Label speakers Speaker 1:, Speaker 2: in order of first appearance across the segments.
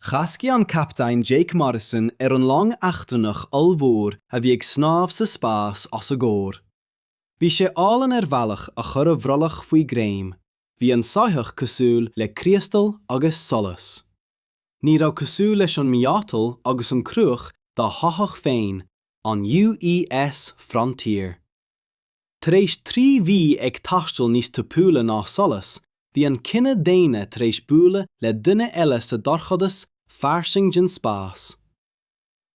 Speaker 1: Chas an captaen Jake Morrison ar an long eachtrannach ollmhór a bhí ag snámh sa spás os a gcomhair. Bhí sé álainn ar bhealach a chuir a bhrollach faoi ghreim. Bhí an soitheach cosúil le criostal agus solas. Ní raibh cosúil leis an miotal agus an cruach dá shoitheach féin, an UES Frontier. Tar éis trí mhí ag taisteal níos tapúla ná solas, bhí an cine daonna tar éis bualadh le duine eile sa dorchadas fairsing den spás.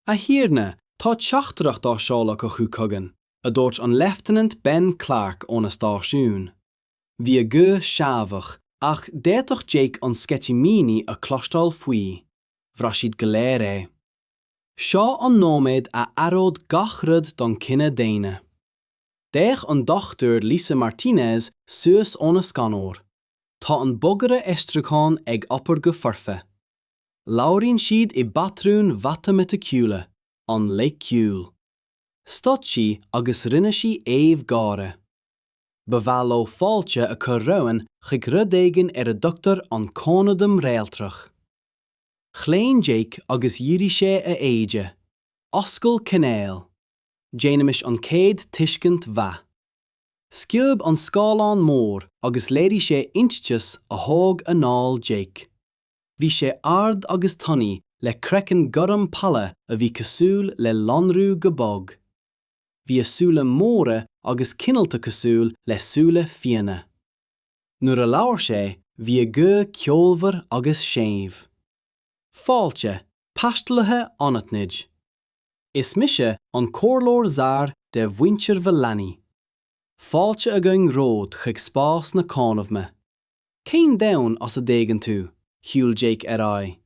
Speaker 1: A Thiarna, tá teachtaireacht á seoladh acu chugainn, a dúirt an Leifteanant Ben Clarke óna stáisiún. Bhí a ghuth seasmhach, ach d'fhéadfadh Jake an sceitimíní a chloisteáil faoi. Bhraith siad go léir é. Seo an nóiméad a athróidh gach rud don cine daonna. D'fhéach an Dr Lisa Martinez suas óna scanóir. Tá an bogearra aistriúcháin ag obair go foirfe. Labhraíonn siad i bpatrúin mhatamaiticiúla, an-loighciúil. Stop sí agus rinne sí aoibh gáire. Ba mhaith leo fáilte a chur romhainn chuig rud éigin ar a dtugtar an Cónaidhm Réaltrach. Chlaon Jake agus dhírigh sé a éide. Oscail cainéal. Déanaimis an chéad tuiscint mhaith. Sciob an scáileán mór agus léirigh sé eintiteas a thóg anáil Jake. Bhí sé ard agus tanaí le craiceann gorm pale a bhí cosúil le lonrú go bog. Bhí a súile móra agus cineálta cosúil le súile fianna. Nuair a labhair sé bhí a ghuth ceolmhar agus séimh. Fáilte, taistealaithe anaithnid. Is mise an Comhairleoir Zar de mhuintir Villani. Fáilte againn romhat chuig spás na cónaidhme. Cén domhan as a dtagann tú? shiúil Jake ar aghaidh.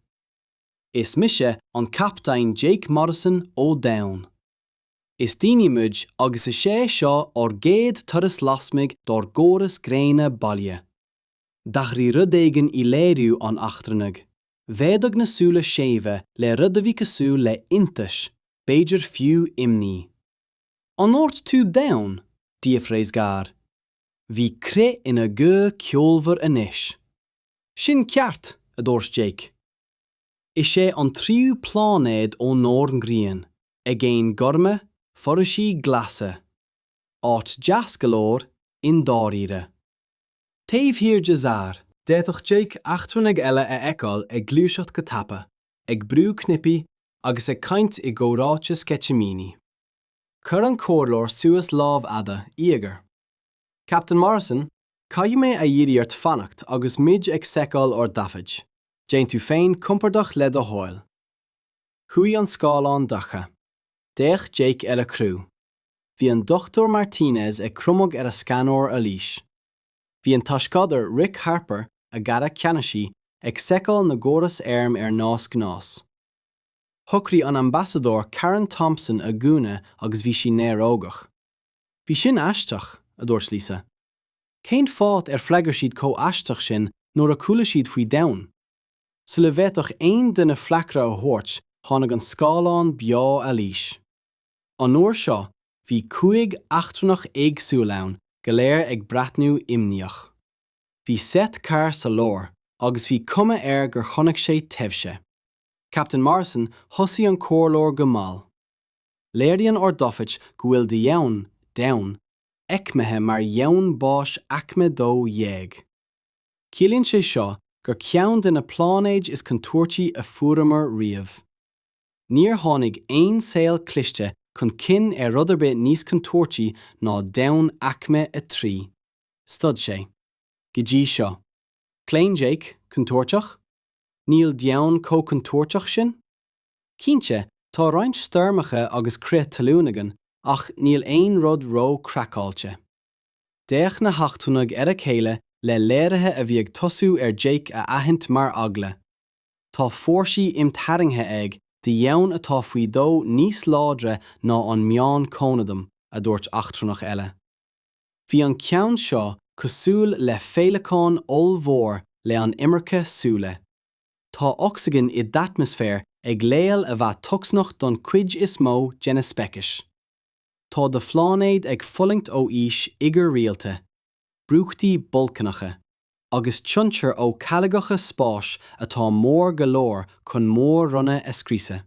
Speaker 1: Is mise an Captaen Jake Morrison ó Domhan. Is daoine muid agus is é seo ár gcéad turas lasmuigh dár gcóras gréine baile. D'athraigh rud éigin i léiriú an eachtrannaigh. Mhéadaigh na súile séimhe le rud a bhí cosúil le hiontas, b'fhéidir fiú imní. 'An ndúirt tú Domhan? d'fhiafraigh Zar. Bhí crith ina ghuth ceolmhar anois. 'Sin ceart, a dúirt Jake. Is é an tríú pláinéad ónár ngrian, aigéin gorma, foraoisí glasa. Áit deas go leor, i ndáiríre. Taobh thiar de Zar, D'fhéadfadh Jake eachtrannaigh eile a fheiceáil ag gluaiseacht go tapa, ag brú cnaipí, agus ag caint i gcomhráite sceitimíní. Chuir an comhairleoir suas lámh fhada, íogair. Captain Morrison, Caithfidh mé a iarraidh ort fanacht agus muid ag seiceáil ár dtaifid. Déan tú féin compordach le do thoil. Chuaigh an scáileán dorcha. D'fhéach Jake ar a chriú. Bhí an Dr Martinez ag cromadh ar a scanóir arís. Bhí an tOscadair Rick Harper, a dhara ceannasaí, ag seiceáil na gcóras airm ar nós gnás. Shocraigh an Ambasadóir Karen Thompson a gúna agus bhí sí néarógach. Bhí sin aisteach, a dúirt Lisa. Cén fáth ar freagair siad chomh aisteach sin nuair a chuala siad faoi Domhan? Sula bhféadfadh aon duine freagra a thabhairt tháinig an scáileán beo arís. An uair seo bhí cúig eachtrannach éagsúil ann, go léir ag breathnú imníoch. Bhí Seth Carr sa lár agus bhí cuma air gur chonaic sé taibhse. Captain Morrison thosaigh an comhairleoir go mall. Léiríonn ár dtaifid go bhfuil do dhomhan, Domhan, aicmithe mar dhomhan báis aicme 12. Ciallaíonn sé seo gur ceann de na pláinéid is contúirtí a fuaireamar riamh. Níor tháinig aon saol cliste chun cinn ar áit ar bith níos contúirtí ná domhan aicme 3. Stad sé. Go dtí seo. Chlaon Jake, contúirteach? Níl Domhan chomh contúirteach sin? Cinnte, tá roinnt stoirmeacha agus crith talún againn ach níl aon rud róchraiceáilte. D'fhéach na heachtrannaigh ar a chéile le léirithe a bhí ag tosú ar Jake a aithint mar eagla. Tá fórsaí imtharraingthe ag do dhomhan atá faoi dhó níos láidre ná an meán cónaidhm, a dúirt eachtrannach eile. Bhí an ceann seo cosúil le féileacán ollmhór le an iomarca súile. tá ocsaigin i d'atmaisféar ag leibhéal a bheadh tocsaineach don chuid is mó de na speicis. Tá do phláinéad ag fulaingt ó aois oighir rialta, brúchtaí bolcaineacha, agus tionchair ó charraigeacha spáis atá mór go leor chun mór-ronna a scriosadh.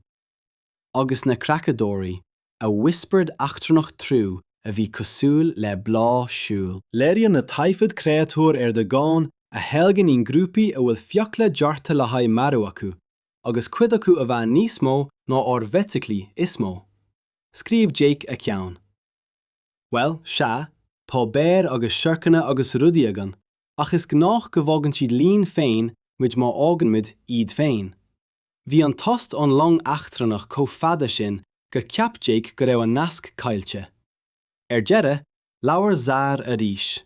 Speaker 1: agus na creachadóirí, a whispered eachtrannach triú a bhí cosúil le bláth siúil. Léiríonn na taifid créatúir ar do dhomhan a sheilgeann i ngrúpaí a bhfuil fiacla deartha le haghaidh marú acu, agus cuid acu a bheith níos mó ná ár bhfeithiclí is mó. Scríobh Jake a cheann. Bhuel, sea, tá béir agus siorcanna agus rudaí againn, ach is gnách go bhfágann siad linn féin muid má fhágann muid iad féin. Bhí an tost ón long eachtrannach chomh fada sin gur cheap Jake go raibh an nasc caillte. Ar deireadh, labhair Czar arís.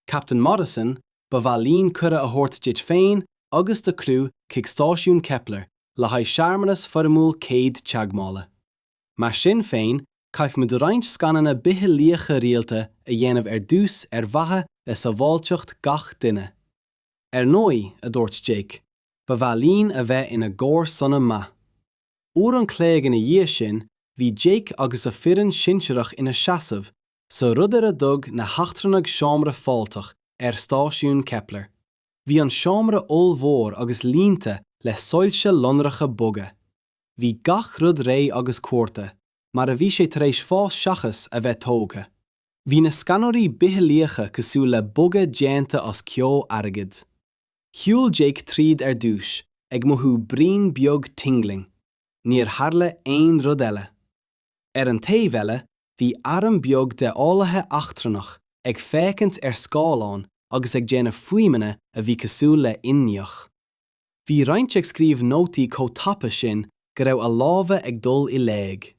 Speaker 1: Captain Morrison, ba mhaith linn cuireadh a thabhairt duit féin agus do chriú chuig Stáisiún Kepler le haghaidh searmanas foirmiúil céad teagmhála. Mar sin féin, caithfimid roinnt scananna bitheolaíocha rialta a dhéanamh ar dtús ar mhaithe le sábháilteacht gach duine. Ar ndóigh, a dúirt Jake, ba mhaith linn a bheith ina gcomharsana maith. Uair an chloig ina dhiaidh sin bhí Jake agus a foireann shinsearach ina seasamh sa rud ar a dtug na heachtrannaigh seomra fáilteach ar Stáisiún Kepler. Bhí an seomra ollmhór agus líonta le soilse lonracha boga. Bhí gach rud réidh agus cuartha mar a bhí sé tar éis fás seachas a bheith tógtha. Bhí na scanóirí bitheolaíocha cosúil le bogha déanta as ceo airgid. Shiúil Jake tríd ar dtús, ag mothú braon beag tingling. Níor tharla aon rud eile. Ar an taobh eile, bhí arm beag de eolaithe eachtrannach ag féachaint ar scáileán agus ag déanamh fuaimeanna a bhí cosúil le inneach. Bhí roinnt ag scríobh nótaí chomh tapa sin go raibh a lámha ag dul i léig.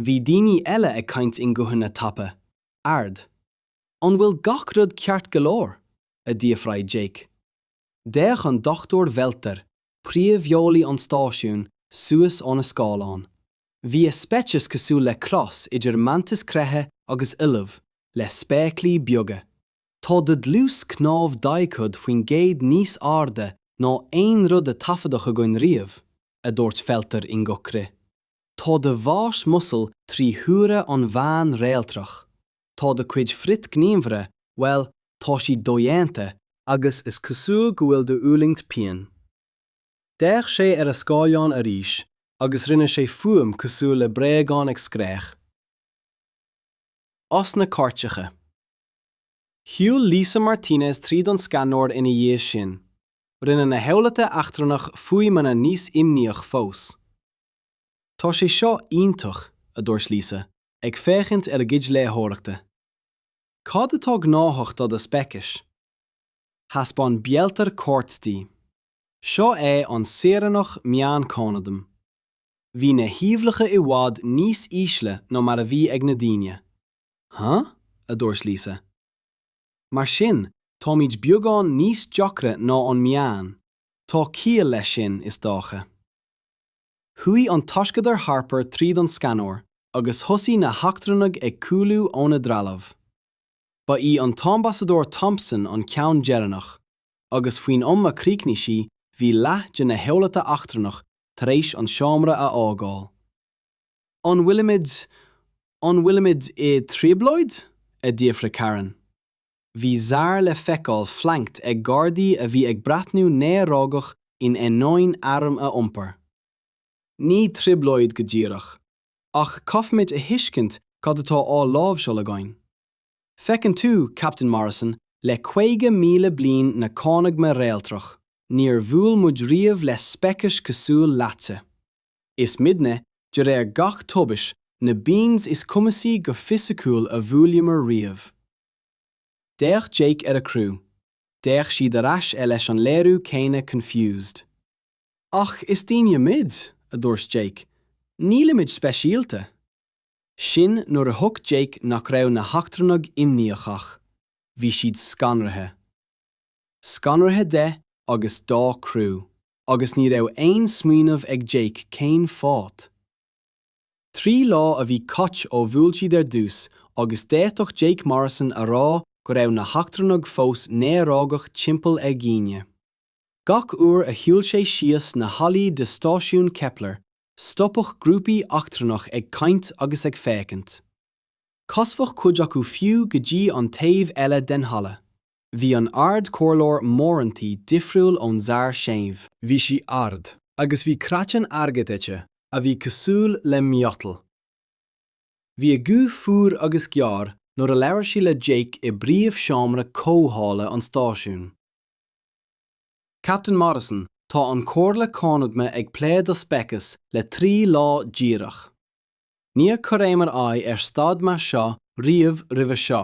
Speaker 1: Bhí daoine eile ag caint i nguthanna tapa, ard. An bhfuil gach rud ceart go leor? a d'fhiafraigh Jake. D'fhéach an Dr Welter, príomheolaí an stáisiúin, suas óna scáileán. Bhí a speiceas cosúil le cros idir mantas creiche agus ollamh, le spéaclaí beaga. Tá do dhlús cnámh 40% níos airde ná aon rud a taifeadadh againn riamh, a dúirt Welter i nguth crith. Tá do mhais muscle trí huaire an mheáin réaltrach. Tá do cuid frithghníomhartha, bhuel, tá siad dodhéanta, agus is cosúil go bhfuil do fhulaingt pian. D'fhéach sé ar a scáileán arís agus rinne sé fuaim cosúil le bréagán ag scréach. As na cairteacha. Shiúil Lisa Martinez tríd an scanóir ina dhiaidh sin. Rinne na heolaithe eachtrannach fuaimeanna níos imníoch fós. Tá sé seo iontach, a dúirt Lisa, ag féachaint ar a gcuid léitheoireachta. Cad atá gnáthach do do speicis? Thaispeáin Welter cairt di. Seo é an Saoránach Meán Cónaidhm. Bhí na huimhreacha i bhfad níos ísle ná mar a bhí ag na daoine. Huh? a dúirt Lisa. Mar sin, táimid beagán níos deacra ná an meán. Tá ciall leis sin, is dócha. Chuaigh an taisceadar Harper tríd an scanóir agus thosaigh na heachtrannaigh ag cúlú óna dtrealamh. Ba í an tAmbasadóir Thompson an ceann deireanach, agus faoin am a chríochnaigh sí bhí leath de na heolaithe eachtrannacha tar éis an seomra a fhágáil. An bhfuilimid, an bhfuilimid i dtrioblóid? a d'fhiafraigh Karen. Bhí Czar le feiceáil flanked ag gardaí a bhí ag breathnú néarógach in ainneoin airm a iompar. Ní trioblóid go díreach, ach caithfimid a thuiscint cad atá á láimhseáil againn. Feiceann tú, Captain Morrison, le caoga míle bliain na Cónaidhme réaltrach, níor bhuail muid riamh le speicis cosúil leatsa. Is muidne, de réir gach tomhais, na beans is cumasaí go fisiciúil a bhuaileamar riamh. D'fhéach Jake ar a chriú. D'fhéach siad ar ais air leis an léiriú céanna confused. Ach is daoine muid, a dúirt Jake. Nílimid speisialta. Sin nuair a thuig Jake nach raibh na heachtrannaigh imníoch ach bhí siad scanraithe. scanraithe de agus dá criú, agus ní raibh aon smaoineamh ag Jake cén fáth. Trí lá a bhí caite ó bhuail siad ar dtús agus d'fhéadfadh Jake Morrison a rá go raibh na heachtrannaigh fós néarógach timpeall ar dhaoine. Gach uair a shiúil sé síos na hallaí de Stáisiún Kepler, stopfadh grúpaí eachtrannach ag caint agus ag féachaint. Chasfadh cuid acu fiú go dtí an taobh eile den halla. Bhí an Ard-Chomhairleoir Moranty difriúil ón Sar séimh. Bhí sí ard, agus bhí craiceann airgid aici a bhí cosúil le miotal. Bhí a guth fuar agus gearr nuair a labhair sí le Jake i bpríomhsheomra comhdhála an stáisiúin. Captain Morrison, tá an Chomhairle Cónaidhme ag plé do speiceas le trí lá díreach. Níor chuireamar aghaidh ar staid mar seo riamh roimhe seo.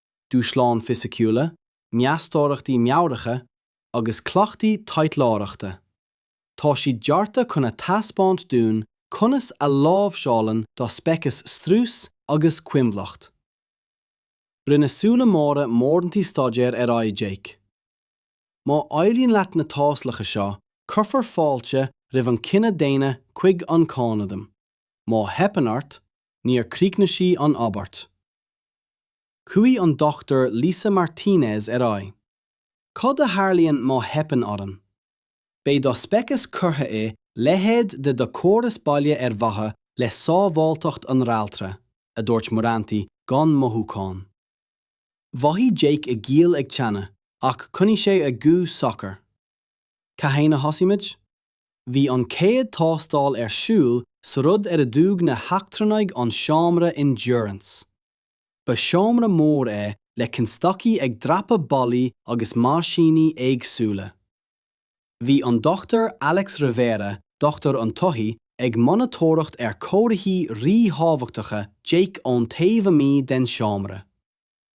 Speaker 1: dúshláin fisiciúla, meastóireachtaí meabhracha agus cleachtaí taidhleoireachta. Tá siad deartha chun a thaispeáint dúinn conas a láimhseálann do speiceas strús agus coinbhleacht. Rinne súile móra Moranty staidéar ar aghaidh Jake. Má éiríonn leat na tástálacha seo, cuirfear fáilte roimh an cine daonna chuig an Cónaidhm. Má theipeann ort, níor críochnaigh sí an abairt. Chuaigh an Dr Lisa Martinez ar aghaidh, Cad a tharlaíonn má theipeann orainn? Beidh do speiceas curtha i leithéid de do chóras baile ar mhaithe le sábháilteacht an realtra, a dúirt Muranti gan mothúchán. Mhothaigh Jake a ghiall ag teannadh ach choinnigh sé a ghuth socair. Cathain a thosaímid? Bhí an chéad tástáil ar siúl sa rud ar a dtug na heachtrannaigh an seomra endurance. Ba sheomra mór é le constaicí ag dreapadh ballaí agus meaisíní éagsúla. Bhí an Dr Alex Rivera, dochtúir an tsoithigh, ag monatóireacht ar chomharthaí ríthábhachtacha Jake ón taobh amuigh den seomra.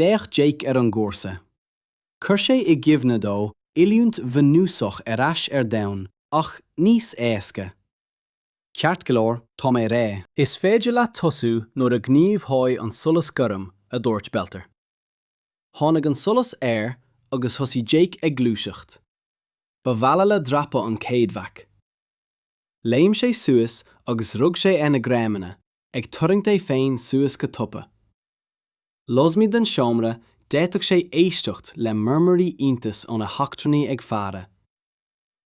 Speaker 1: D'fhéach Jake ar an gcúrsa. Chuir sé i gcuimhne dó oiliúint bhunúsach ar ais ar domhan, ach níos éasca. Ceart go leor, tá mé réidh. Is féidir leat tosú nuair a ghníomhóidh an solas gorm, a dúirt Belter. Tháinig an solas air agus thosaigh Jake ag gluaiseacht. Ba bhalla le dreapadh an chéad bhac. Léim sé suas agus rug sé ar na greamanna, ag tarraingt é féin suas go tapa. Lasmuigh den seomra, d'fhéadfadh sé éisteacht le murmairí iontais ó na heachtrannaigh ag faire.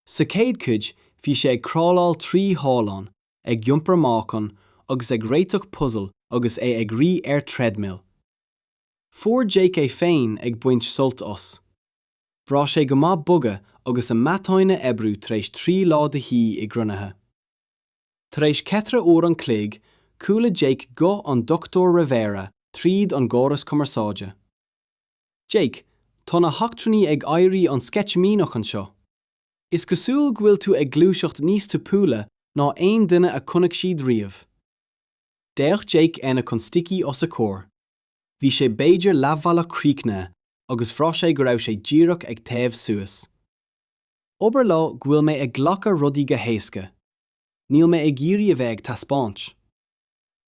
Speaker 1: Sa chéad chuid, bhí sé ag crawláil trí thollán, ag iompar meáchain, agus ag réiteach puzail agus é ag rith ar threadmill. Fuair Jake é féin ag baint sult as. Bhraith sé go maith bogadh agus a mhatáin a oibriú tar éis trí lá de shuí i gcruinnithe. Tar éis cheithre uair an chloig, chuala Jake guth an Dr. Rivera tríd an gcóras cumarsáide. Jake, tá na heachtrannaigh ag éirí an-sceitimíneach anseo. Is cosúil go bhfuil tú ag gluaiseacht níos tapúla ná aon duine a chonaic siad riamh. D'fhéach Jake ar na constaicí os a chomhair. Bhí sé b'fhéidir leathbhealach críochnaithe agus bhraith sé go raibh sé díreach ag téamh suas. Abair leo go bhfuil mé ag glacadh rudaí go héasca. Níl mé ag iarraidh a bheith ag taispeáint.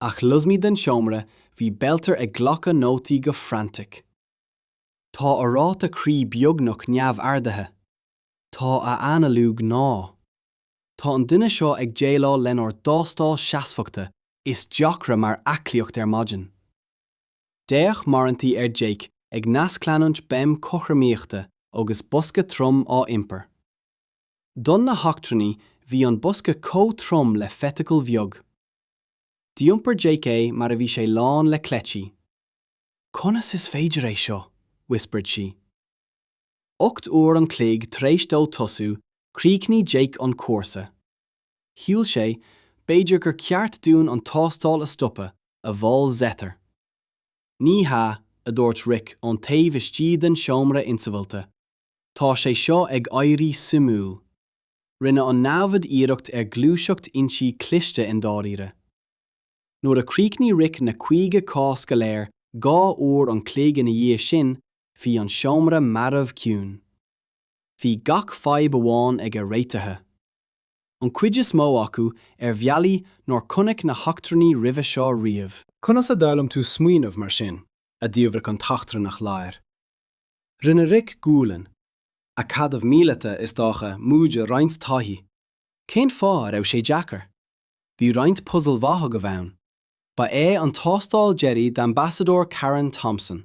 Speaker 1: Ach lasmuigh den seomra bhí Belter ag glacadh nótaí go frantic. Tá a ráta croí beagnach neamhardaithe. Tá a analú gnáth. Tá an duine seo ag déileáil lenár dtástáil seasmhachta is deacra mar aclaíocht ar maidin. D'fhéach Muranti ar Jake ag nascleanúint béim chothromaíochta agus bosca trom á iompar. Do na heachtrannaigh bhí an bosca chomh trom le feithicil bheag. D'iompar Jake é mar a bhí sé lán le cleití. Conas is féidir é seo? whispered she. Ocht uair an chloig tar éis dó tosú, chríochnaigh Jake an cúrsa. Shíl sé, b'fhéidir, gur ceart dúinn an tástáil a stopadh, a mhol Zetter. Ní hea, a dúirt Rick ón taobh istigh den seomra insamhalta, tá sé seo ag éirí suimiúil. Rinne an namhaid iarracht ar ghluaiseacht inti cliste i ndáiríre. Nuair a chríochnaigh Rick na caoga cás go léir dhá uair an chloig ina dhiaidh sin, bhí an seomra marbh ciúin. bhí gach fadhb amháin aige réitithe, an chuid is mó acu ar bhealaí nár chonaic na heachtrannaigh roimhe seo riamh. Conas a d'fhoghlaim tú smaoineamh mar sin? a d'fhiafraigh an t-eachtrannach láir. Rinne Rick gualainn. Acadamh míleata, is dócha, móide roinnt taithí. Cén fáth a raibh sé deacair? Bhí roinnt puzal maithe agaibh ann. Ba é an tástáil deiridh d'Ambasadóir Karen Thompson.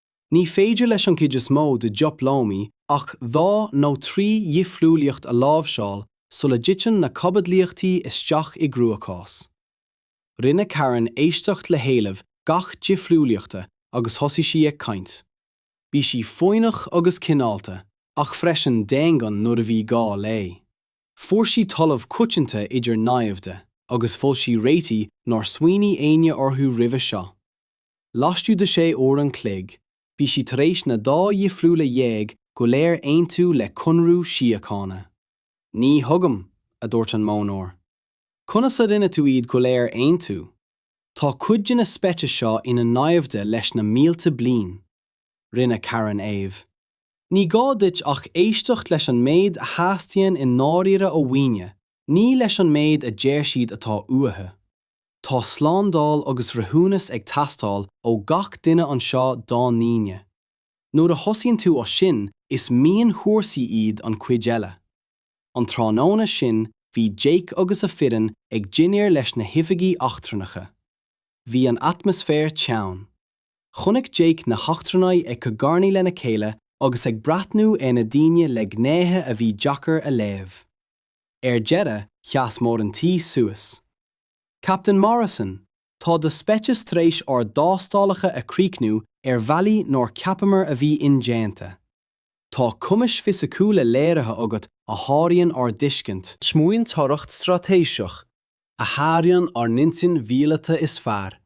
Speaker 1: Ní féidir leis an gcuid is mó de dhioplómaithe ach dhá nó trí dhifriúlaíocht a láimhseáil sula dtiteann na caibidlíochtaí isteach i gcruachás. Rinne Karen éisteacht le héilimh gach difriúlaíochta agus thosaigh sí ag caint. Bhí sí foighneach agus cineálta, ach freisin daingean nuair a bhí gá léi. Fuair sí talamh coitianta idir naimhde, agus mhol sí réitigh nár smaoinigh éinne orthu roimhe seo. laistigh de shé uair an chloig, bhí sí tar éis na dá dhifriúla dhéag go léir aontú le conradh síochána. Ní thuigim, a dúirt an modhnóir. Conas a rinne tú iad go léir aontú? Tá cuid de na speicis seo ina naimhde leis na mílte bliain. Rinne Karen aoibh. Ní gá duit ach éisteacht leis an méid a theastaíonn i ndáiríre ó dhaoine, ní leis an méid a deir siad atá uathu. Tá slándáil agus rathúnas ag teastáil ó gach duine anseo dá ndaoine. Nuair a thosaíonn tú as sin, is mionchúrsaí iad an chuid eile. An tráthnóna sin, bhí Jake agus a fhoireann ag dinnéar leis na hoifigigh eachtrannacha. Bhí an atmaisféar teann. Chonaic Jake na heachtrannaigh ag cogarnaigh lena chéile agus ag breathnú ar na daoine le gnéithe a bhí deacair a léamh. Ar deireadh, sheas Mór an Tí suas. Captain Morrison, tá do speiceas tar éis ár dtástálacha a chríochnú ar bhealaí nár cheapamar a bhí indéanta. Tá cumais fisiciúla léirithe agat a sháraíonn ár dtuiscint. Smaointeoireacht straitéiseach a sháraíonn ár n-intinn mhíleata is fearr,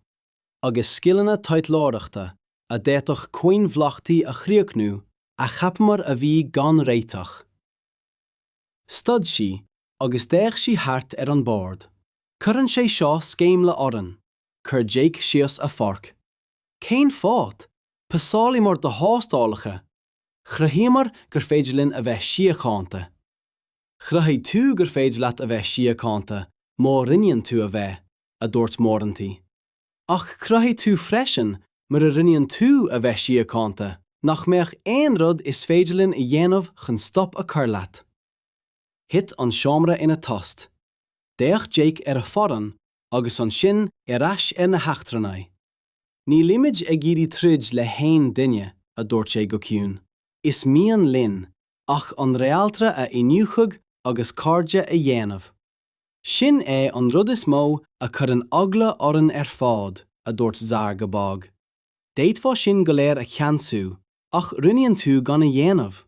Speaker 1: agus scileanna taidhleoireachta a d'fhéadfadh coinbhleachtaí a chríochnú a cheapamar a bhí gan réiteach. Stad sí agus d'fhéach sí thart ar an bord. Cuireann sé seo sceimhle orainn. Chuir Jake síos a forc. Cén fáth? Phasálamar do thástálacha. Chruthaíomar gur féidir linn a bheith síochánta. Chruthaigh tú gur féidir leat a bheith síochánta, má roghnaíonn tú a bheith, a dúirt Moranty. Ach chruthaigh tú freisin, mura roghnaíonn tú a bheith síochánta, nach mbeadh aon rud is féidir linn a dhéanamh chun stop a chur leat. Thit an seomra ina tost. D'fhéach Jake ar a fhoireann agus ansin ar ais ar na heachtrannaigh. Nílimid ag iarraidh troid le haon duine, a dúirt sé go ciúin. Is mian linn ach an réaltra a iniúchadh agus cairde a dhéanamh. Sin é an rud is mó a chuireann eagla orainn ar fad, a dúirt Zar go bog. D'fhéadfá sinn go léir a cheansú, ach roghnaíonn tú gan a dhéanamh.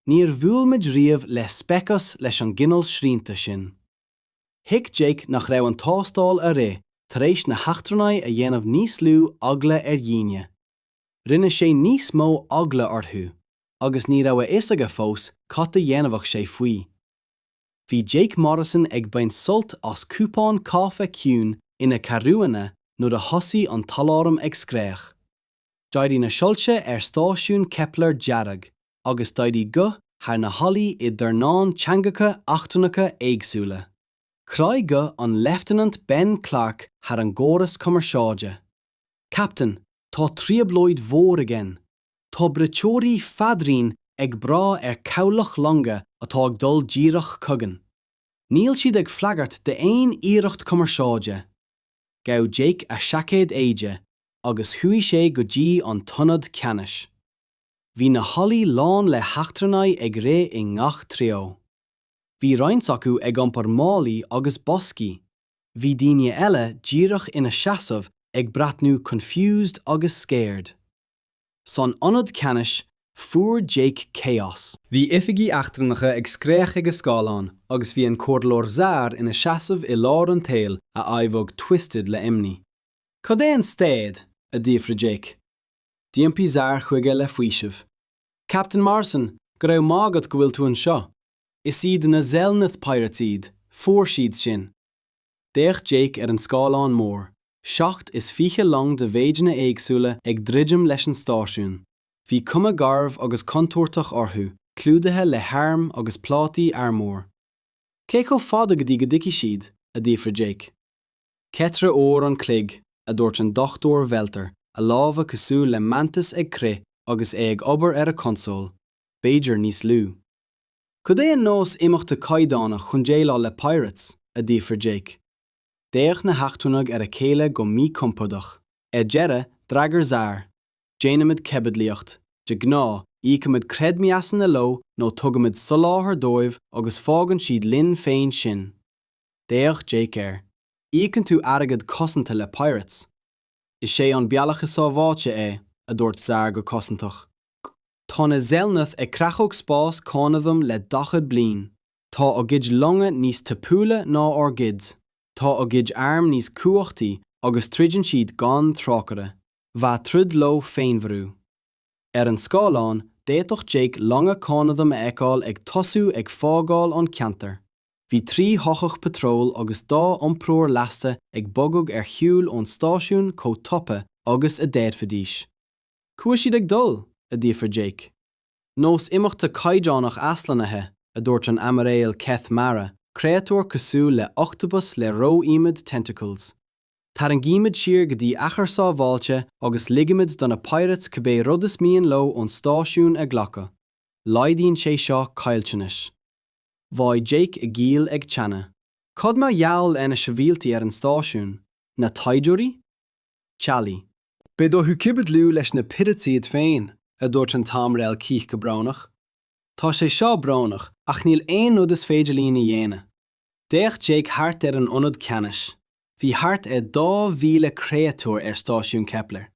Speaker 1: Níor bhuail muid riamh le speiceas leis an gcineál srianta sin. Thuig Jake nach raibh an tástáil a rith tar éis na heachtrannaigh a dhéanamh níos lú eagla ar dhaoine. Rinne sé níos mó eagla orthu, agus ní raibh a fhios aige fós cad a dhéanfadh sé faoi. bhí Jake Morrison ag baint sult as cupán cáife ciúin ina cheathrúna nuair a thosaigh an t-aláram ag scréach. D'éirigh na soilse ar stáisiún Kepler dearg agus d'éirigh guth thar na hallaí i dornán teangacha eachtrannacha éagsúla. Chroith guth an Leifteanant Ben Clarke thar an gcóras cumarsáide, Captain, tá trioblóid mhór againn! Tá braiteoirí fadraoin ag brath ar cabhlach longa atá ag dul díreach chugainn. Níl siad ag freagairt d'aon iarracht cumarsáide. Ghabh Jake a seaicéad éide agus chuaigh sé go dtí an t-ionad ceannais. Bhí na hallaí lán le heachtrannaigh ag rith i ngach treo. Bhí roinnt acu ag iompar málaí agus boscaí. Bhí daoine eile díreach ina seasamh ag breathnú confused agus scared. San ionad ceannais, fuair Jake chaos. Bhí oifigigh eachtrannacha ag scréach ag a scáileáin agus bhí an comhairleoir Zar ina seasamh i lár an tsaoil a aghaidh twisted le imní. Cad é an staid? a d'fhiafraigh Jake. D'iompaigh Zar chuige le faoiseamh. Captain Morrison, go raibh maith agat go bhfuil tú anseo. Is iad na Zelneth Pirates iad, fuair siad sinn. D'fhéach Jake ar an scáileán mór, seacht is fiche long de mhéideanna éagsúla ag druidim leis an stáisiún. Bhí cuma garbh agus contúirteach orthu, clúdaithe le hairm agus plátaí armúir. Cé chomh fada go dtí go dtiocfaidh siad? a d'fhiafraigh Jake. Ceithre uair an chloig, a dúirt an Dr Veltar, a lámha cosúil le mantis ag crith agus é ag obair ar a chonsól, b'fhéidir níos lú. Cad é an nós imeachta caighdeánach chun déileáil le pirates? a d'fhiafraigh Jake. D'fhéach na heachtrannaigh ar a chéile go míchompordach. Ar deireadh, d'fhreagair Zar, Déanaimid caibidlíocht, de ghnáth, íocaimid creidmheasanna leo nó tugaimid soláthar dóibh agus fágann siad linn féin sinn. D'fhéach Jake air. Íocann tú airgead cosanta le pirates. Is é an bealach is sábháilte é, a dúirt Zar go cosantach. Tá na Zelnath ag creachadh spás Cónaidhm le daichead bliain. Tá a gcuid longa níos tapúla ná ár gcuid, tá a gcuid arm níos cumhachtaí agus troideann siad gan trócaire. Bheadh troid leo féinmharú. Ar an scáileán, d'fhéadfadh Jake longa Cónaidhm a fheiceáil ag tosú ag fágáil an cheantair. Bhí trí shoitheach patróil agus dhá iompróir lasta ag bogadh ar shiúl ón stáisiún chomh tapa agus a d'fhéadfaidís. Cá bhfuil siad ag dul? a d'fhiafraigh Jake. Nós imeachta caighdeánach aslonnaithe, a dúirt an Aimiréal Keth Mara, créatúr cosúil le octopus le ró-iomad tentacles. Tarraingímid siar go dtí achar sábháilte agus ligimid do na pirates cibé rud is mian leo ón stáisiún a ghlacadh. Laghdaíonn sé seo caillteanais. Bhraith Jake a ghiall ag teannadh. Cad mar gheall ar na sibhialtaigh ar an stáisiún? Na taighdeoirí? Teaghlaigh? Beidh orthu caibidliú leis na pirates iad féin, a dúirt an tAimiréal Keth go brónach. Tá sé seo brónach ach níl aon rud is féidir linn a dhéanamh. D'fhéach Jake thart ar an ionad ceannais. Bhí thart ar dhá mhíle créatúr ar Stáisiún Kepler.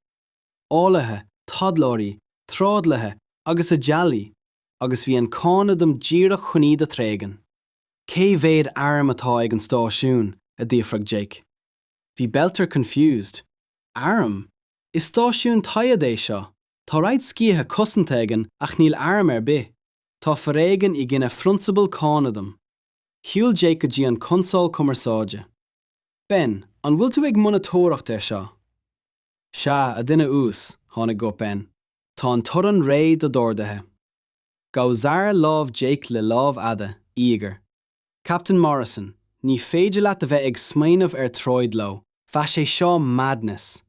Speaker 1: Eolaithe, taidhleoirí, trádálaithe agus a dteaghlaigh, agus bhí an Cónaidhm díreach chun iad a thréigean. Cé mhéad airm atá ag an stáisiún? a d'fhiafraigh Jake. Bhí Beltar confused. Airm? Is stáisiún taighde é seo. Tá roinnt sciatha cosanta againn ach níl airm ar bith. Tá foréigean i gcoinne phrionsabal Cónaidhm. Shiúil Jake go dtí an consól cumarsáide. Ben, an bhfuil tú ag monatóireacht ar seo? Sea, a dhuine uas, tháinig guth Ben, tá an torann réidh do d'orduithe. Ghabh Zar lámh Jake le lámh fhada, íogair. Captain Morrison, ní féidir leat a bheith ag smaoineamh ar troid leo. Bheadh sé seo madness.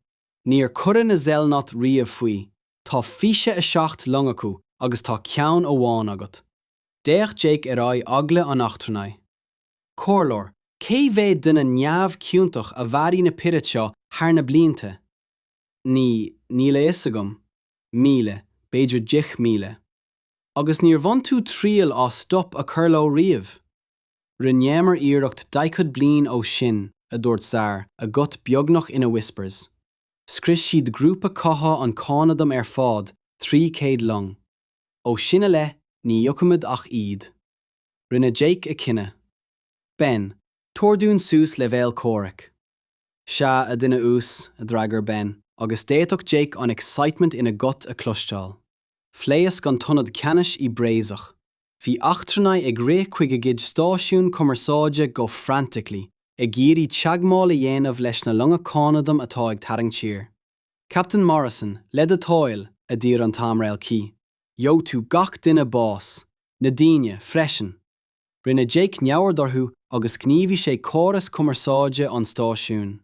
Speaker 1: Níor cuireadh na Zelnath riamh faoi, tá 27 long acu agus tá ceann amháin agat. D'fhéach Jake ar aghaidh eagla an eachtrannaigh. Comhairleoir, cé mhéad duine neamhchiontach a mharaigh na pirates seo thar na blianta? Ní, níl a fhios agam. Míle, b'fhéidir deich míle. Agus níor bhain tú triail as stop a chur leo riamh? Rinneamar iarracht daichead bliain ó shoin, a dúirt Zar, a ghuth beagnach ina whispers. Scrios siad grúpa catha an Cónaidhm ar fád, trí chéad long. Ó sin i leith, ní íocaimid ach iad. Rinne Jake a chinneadh. Ben, Tabhair dúinn suas leibhéal comhraic. Sea, a dhuine uas, a d'fhreagair Ben, agus d'fhéadfadh Jake an excitement ina ghuth a chloisteáil. Phléasc an t-ionad ceannais i bpraiseach. Bhí eachtrannaigh ag rith chuig a gcuid stáisiún cumarsáide go frantically, ag iarraidh teagmháil a dhéanamh leis na longa cónaidhm atá ag tarraingt siar. Captain Morrison, le do thoil, a d'iarr an tAimiréal Keith. Gheobhaidh tú gach duine bás, na daoine, freisin. Rinne Jake neamhaird orthu agus ghníomhaigh sé córas cumarsáide an stáisiúin.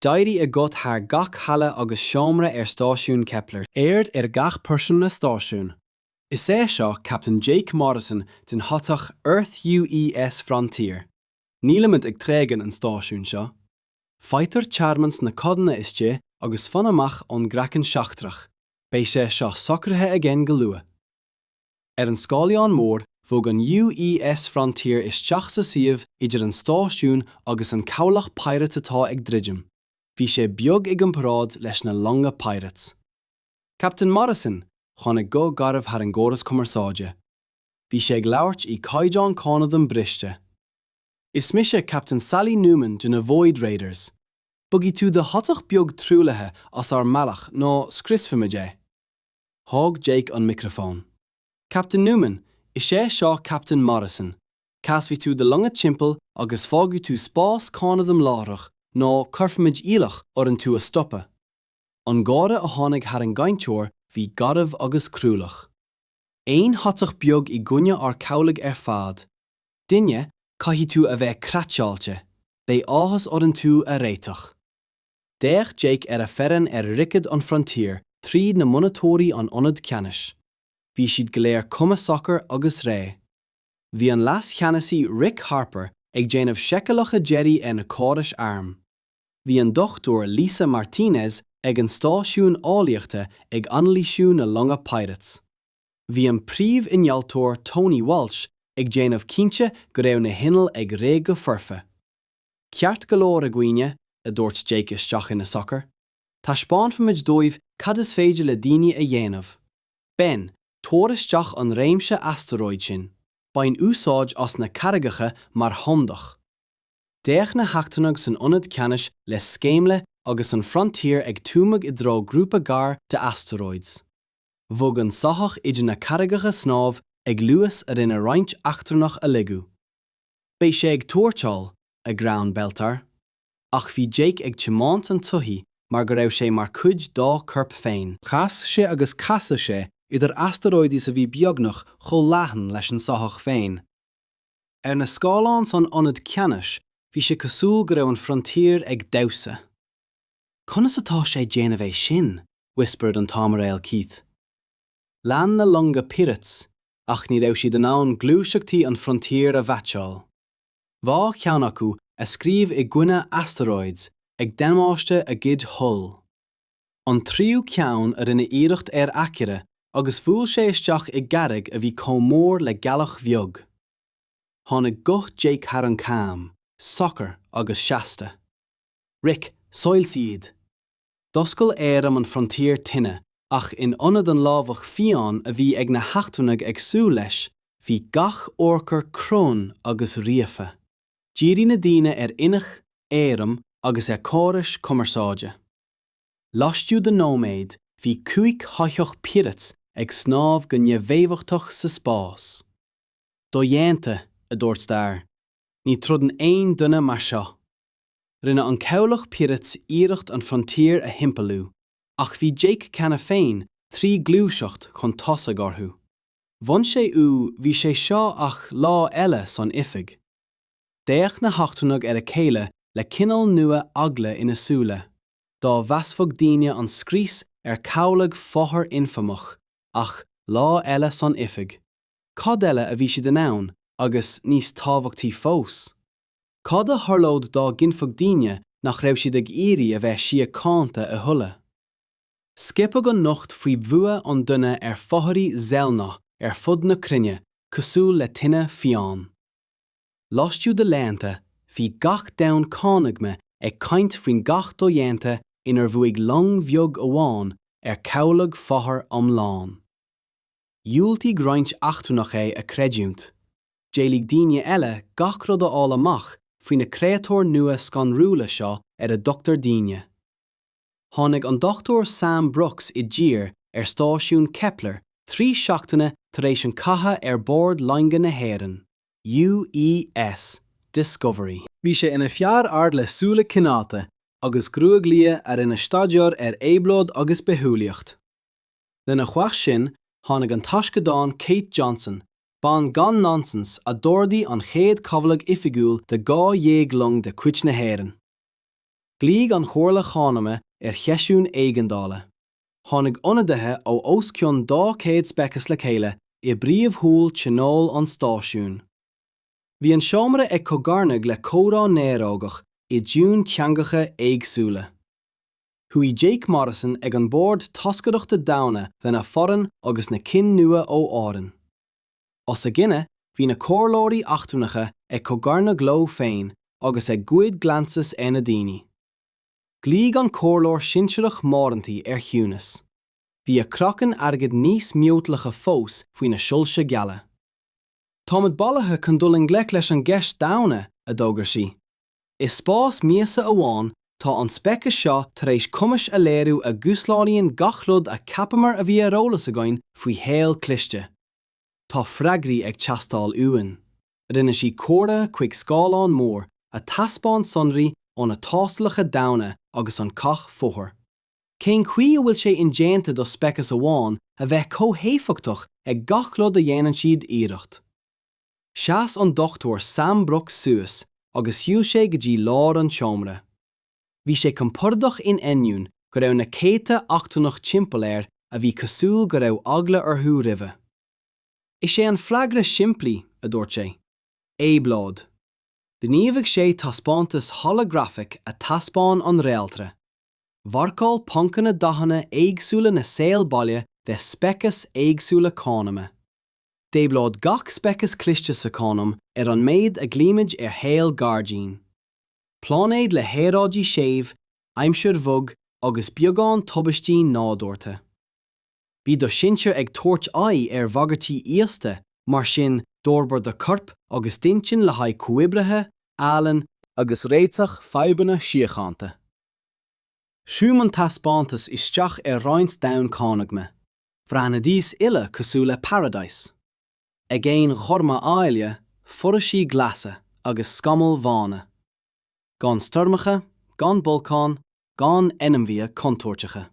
Speaker 1: D'éirigh a ghuth thar gach halla agus seomra ar stáisiún Kepler. Aird ar gach pearsanra stáisiúin. Is é seo Captain Jake Morrison den shoitheach Earth UES Frontier. Nílimid ag tréigean an stáisiúin seo. Faightear tearmann sna codanna istigh agus fan amach ón gcraiceann seachtrach, beidh sé seo socraithe againn go luath. Ar an scáileán mór, bhog an UES Frontier isteach sa suíomh idir an stáisiún agus an cabhlach Pirate atá ag druidim. Bhí sé beag i gcomparáid leis na longa Pirates. Captain Morrison tháinig guth garbh thar an gcóras cumarsáide. Bhí sé ag labhairt i gcaighdeán cónaidhm briste. Is mise Captain Sally Newman de na Void Raiders. Bogfaidh tú do shoitheach beag truaillithe as ár mbealach nó scriosfaimid é. Thóg Jake an micreafón. Captain Newman, is é seo Captain Morrison. Casfaidh tú do longa timpeall agus fágfaidh tú spás cónaidhm láithreach nó cuirfimid iallach orainn tú a stopadh. An gáire a tháinig thar an gcainteoir bhí garbh agus cruálach. Aon shoitheach beag i gcoinne ár cabhlaigh ar fad, duine, caithfidh tú a bheith craiceáilte, beidh áthas orainn tú a réiteach. D'fhéach Jake ar a fhoireann ar dhroichead an Frontier tríd na monatóirí an ionad ceannais. Bhí siad go léir cuma socair agus réidh. Bhí an Leas-Cheannasaí Rick Harper ag déanamh seiceálacha deiridh ar na córais airm. Bhí an Dr Lisa Martinez ag an stáisiún eolaíochta ag anailísiú na longa Pirates. Bhí an príomh-innealtóir Tony Walsh ag déanamh cinnte go raibh na hinnill ag rith go foirfe. Ceart go leor a dhaoine, a dúirt Jake isteach ina sochar. Taispeánfaimid dóibh cad is féidir le daoine a dhéanamh. Ben, tabhair isteach an réimse astaróid sin. Bain úsáid as na carraigeacha mar chumhdach. D'fhéach na heachtrannaigh san ionad ceannais le sceimhle agus an Frontier ag tumadh i dtreo grúpa gar d'asteroids. Bhog an soitheach idir na carraigeacha snámh ag luas a rinne roinnt eachtrannach a lagú. Beidh sé ag tuairteáil, a ghreann Beltar. Ach bhí Jake ag tiomáint an tsoithigh mar go raibh sé mar chuid dá chorp féin. Chas sé agus casadh sé idir asteroids a bhí beagnach chomh leathan leis an soitheach féin. Ar na scáileáin san ionad ceannais bhí sé cosúil go raibh an Frontier ag damhsa. Conas atá sé déanamh é sin? whispered an tAimiréal Keith. Lean na longa Pirates ach ní raibh siad in ann gluaiseachtaí an Frontier a mheaitseáil. Dhá cheann acu a scríobh i gcoinne asteroids ag damáiste a gcuid hull. an tríú ceann a rinne iarracht ar aicearra agus bhuail sé isteach i gcarraig a bhí comh mór le gealach bheag. Tháinig guth Jake thar an comm, socair agus seasta. Rick, soilsigh iad! D'oscail airm an Frontier tine ach in ionad an lámhach fiáin a bhí ag na heachtrannaigh ag súil leis, bhí gach urchar cruinn agus ríofa. Dhírigh na daoine ar innill, airm agus ar chórais cumarsáide. Laistigh de nóiméad bhí cúig shoitheach Pirates ag snámh go neamhéifeachtach sa spás. Dodhéanta, a dúirt Starr. Ní throideann aon duine mar seo. Rinne an Cabhlach Pirates iarracht an Frontier a thimpeallú, ach bhí Jake cheana féin trí ghluaiseacht chun tosaigh orthu. Bhain sé ú bhí sé seo ach lá eile san oifig. D'fhéach na heachtrannaigh ar a chéile le cineál nua eagla ina súile, dá mheasfadh daoine an scrios ar chabhlach fothar infamach, ach, lá eile san oifig, cad eile a bhí siad in ann agus, níos tábhachtaí fós, cad a tharlódh dá gcinnfeadh daoine nach raibh siad ag iarraidh a bheith síochánta a thuilleadh? Scaipeadh an nuacht faoi bhua an duine ar fothairí Zelnoth ar fud na cruinne cosúil le tine fiáin. Laistigh de laethanta, bhí gach domhan cónaithe ag caint faoin gcath dodhéanta inar bhuaigh long bheag amháin ar chabhlach fothar iomlán. Dhiúltaigh roinnt eachtrannach é a chreidiúint. D'éiligh daoine eile gach rud a fháil amach faoi na créatúir nua scanrúla seo ar a dtugtar daoine. tháinig an Dr Sam Brooks i dtír ar stáisiún Kepler trí seachtaine tar éis an chatha ar bord loinge na hÉireann, UES Discovery. Bhí sé ina fear ard le súile cineálta agus gruaig liath a rinne staideár ar éabhlóid agus bithiúlaíocht. Lena chois sin, tháinig an taisceadán Kate Johnson, bean gan nonsense a d'ordaigh an chéad chabhlach oifigiúil de dhá dhéag long de chuid na hÉireann. Ghlaoigh an Chomhairle Chónaidhme ar sheisiún éigeandála. Tháinig ionadaithe ó os cionn 200 speiceas le chéile i bpríomh-hall tionóil an stáisiúin. Bhí an seomra ag cogarnaigh le comhrá néarógach i dtiúin teangacha éagsúla. Shuigh Jake Morrison ag an mbord toscaireachta daonna lena foireann agus na cinn nua ó Éirinn. Os a gcoinne bhí na comhairleoirí eachtrannacha ag cogarnach leo féin agus ag goid glances ar na daoine. Ghlaoigh an comhairleoir sinsearach Moranty ar chiúnas. Bhí a craiceann airgid níos miotalacha fós faoi na soilse geala. Táimid bailithe chun dul i ngleic leis an gceist daonna, a d'fhógair sí. I spás míosa amháin, tá an speiceas seo tar éis cumais a léiriú a dhúshlánaíonn gach rud a cheapamar a bhí ar eolas againn faoi shaol cliste. Tá freagraí ag teastáil uainn. Rinne sí comhartha chuig scáileán mór, a thaispeáin sonraí ó na tástálacha daonna agus an cath Fóthair. Cén chaoi a bhfuil sé indéanta do speiceas amháin a bheith chomh héifeachtach ag gach rud a dhéanann siad iarracht? Sheas an Dr Sam Brooks suas agus shiúil sé go dtí lár an tseomra. Bhí sé compordach in ainneoin go raibh na céadta eachtrannach timpeall air a bhí cosúil go raibh eagla orthu roimhe. Is é an freagra simplí, a dúirt sé, éabhlóid. Ghníomhaigh sé taispeántas holagrafaic a thaispeáin an réaltra. Mharcáil poncanna dathanna éagsúla na saol baile de speiceas éagsúla cónaidhme. D'éabhlóid gach speiceas cliste sa chónaidhm ar an méid a ghlaoimid ar shaol gairdín. Pláinéid le haeráidí séimh, aimsir bhog agus beagán tubaistí nádúrtha. Bhí do shinsir ag tabhairt aghaidh ar bhagairtí íosta, mar sin d'fhorbair do chorp agus d'intinn le haghaidh comhoibrithe, ealaín, agus réiteach fadhbanna síochánta. Zúm an taispeántas isteach ar roinnt domhan cónaidhme. Bhreathnaidís uile cosúil le paradise. Aigéin ghorma áille, foraoisí glasa agus scamaill bhána. Gan stoirmeacha, gan bolcáin, gan ainmhithe contúirteacha.